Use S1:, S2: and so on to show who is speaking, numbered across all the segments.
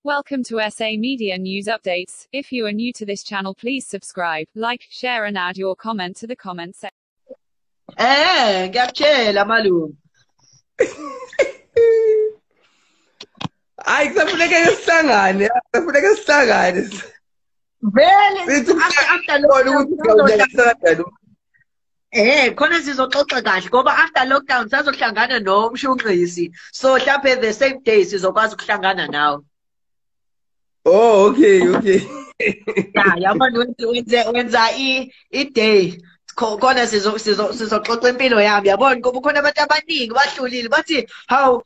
S1: Welcome to SA Media News Updates. If you are new to this channel, please subscribe, like, share, and add your comment to the comment section. Eh, ngiyakutshela
S2: malume.
S3: Hayi kusafuneka sihlangane, kusafuneka sihlangane. Vele
S2: after
S3: lokho
S2: Eh khona sizoxoxa kahle ngoba after lockdown sazohlangana nomshunqisi so mhlawumbe the same day sizokwazi ukuhlangana nawe
S3: Oh okay okay
S2: Ya yabona wenze wenze wenza i i day khona sizo sizo sizoxoxa impilo yami yabona ngoba khona abantu abaningi bahlulile bathi how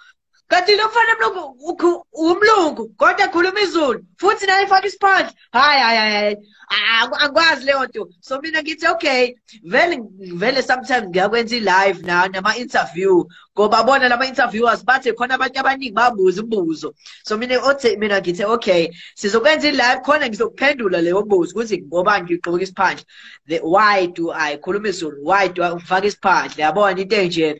S2: kanti lo mfana mlungu umlungu kodwa khuluma izulu futhi naye faka isiphandla hayi hayi hayi angikwazi leyo nto so mina ngithi okay vele vele sometimes ngiyakwenza i-live na nama-interview ngoba bona lama-interviewers bathe khona abantu abaningi babuza imibuzo so mina othe mina ngithe okay sizokwenza i-live khona ngizokuphendula leyo mbuzo ukuthi ngoba ngigqoka isiphandla why do i khuluma izulu why do i ngifaka isiphandla yabona into enjena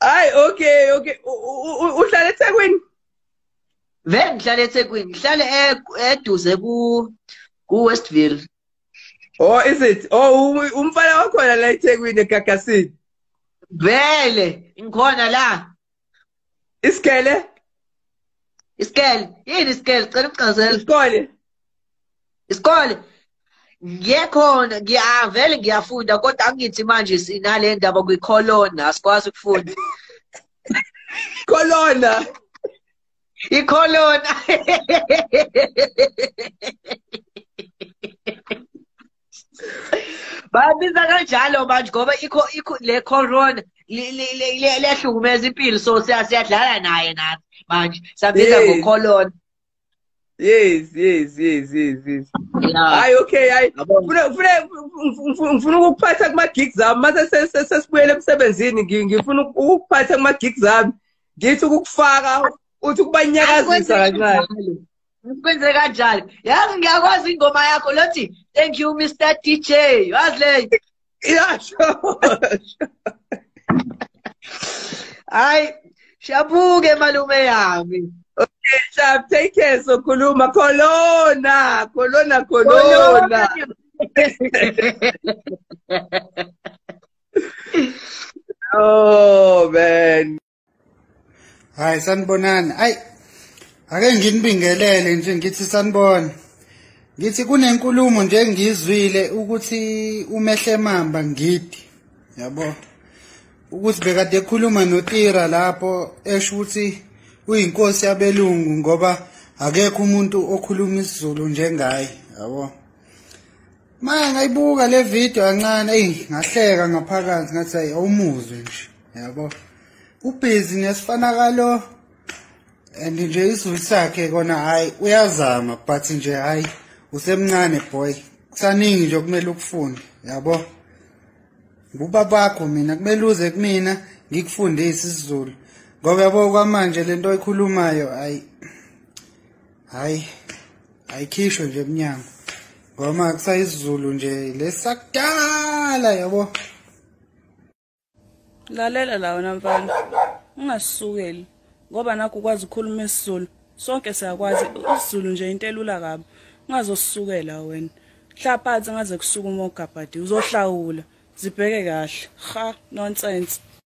S3: Hayi okay okay uhlala eThekwini
S2: Vele ngihlala eThekwini ngihlala eduze ku ku Westville
S3: Oh is it oh umfana wakhona la eThekwini eGagasini Vele
S2: ngikhona la
S3: Isikele? Isikele.
S2: Yini isikele? Cela ukuchazela. Isikole.
S3: Isikole. Ngiyekhona
S2: ngiyavele ngiyafunda kodwa angithi manje sinale ndaba kwicolona asikwazi ukufunda.
S3: Colona. Icolona.
S2: babiza kanjalo manje ngoba ikho ikho le corona liyahlukumeza impilo so siyadlala naye nathi manje sabiza ngocolona yes
S3: yes yes yes yes hayi okay hayi ngifuna ukukuphatha kuma-gigs ami mase sesibuyele emsebenzini ngifuna ukukuphatha kuma-gigs ami ngithi ukukufaka uthi ukubanyakazisa kancane kwenze
S2: kanjani yazi ngiyakwazi ingoma yakho lothi thank you mr dj wazi leyo yasho hayi shabuke malume yami okay shab
S3: take care sokhuluma kolona kolona kolona oh man
S4: hayi sanibonani ayi ake nginibingelele nje ngithi sanibona ngithi kunenkulumo nje engiyizwile ukuthi umehlemamba ngidi yabo ukuthi bekade ekhuluma notira lapho esho ukuthi uyinkosi yabelungu ngoba akekho umuntu okhuluma isiZulu njengaye yabo Manje ngayibuka le video kancane eyi ngahleka ngaphakathi ngathi ayi awumuzwe nje yabo ubhizi nesifanakalo and nje isizulu sakhe kona hayi uyazama but nje hayi usemncane boy kusaningi nje okumele ukufunde yabo buba bakho mina kumele uze kumina ngikufundise isizulu ngoba yabo kwamanje lento oyikhulumayo ayi hayi ayikhishwe nje emnyango ngoma kusayizulu nje lesakudala yabo
S5: lalela la wena mfana ungasukeli ngoba nakho ukwazi ukukhuluma isizulu sonke siyakwazi isizulu nje into elula kabi ungazosukela wena hlaphansi ngaze kusuka uma ugabhadi uzohlawula zibheke kahle ha nonsense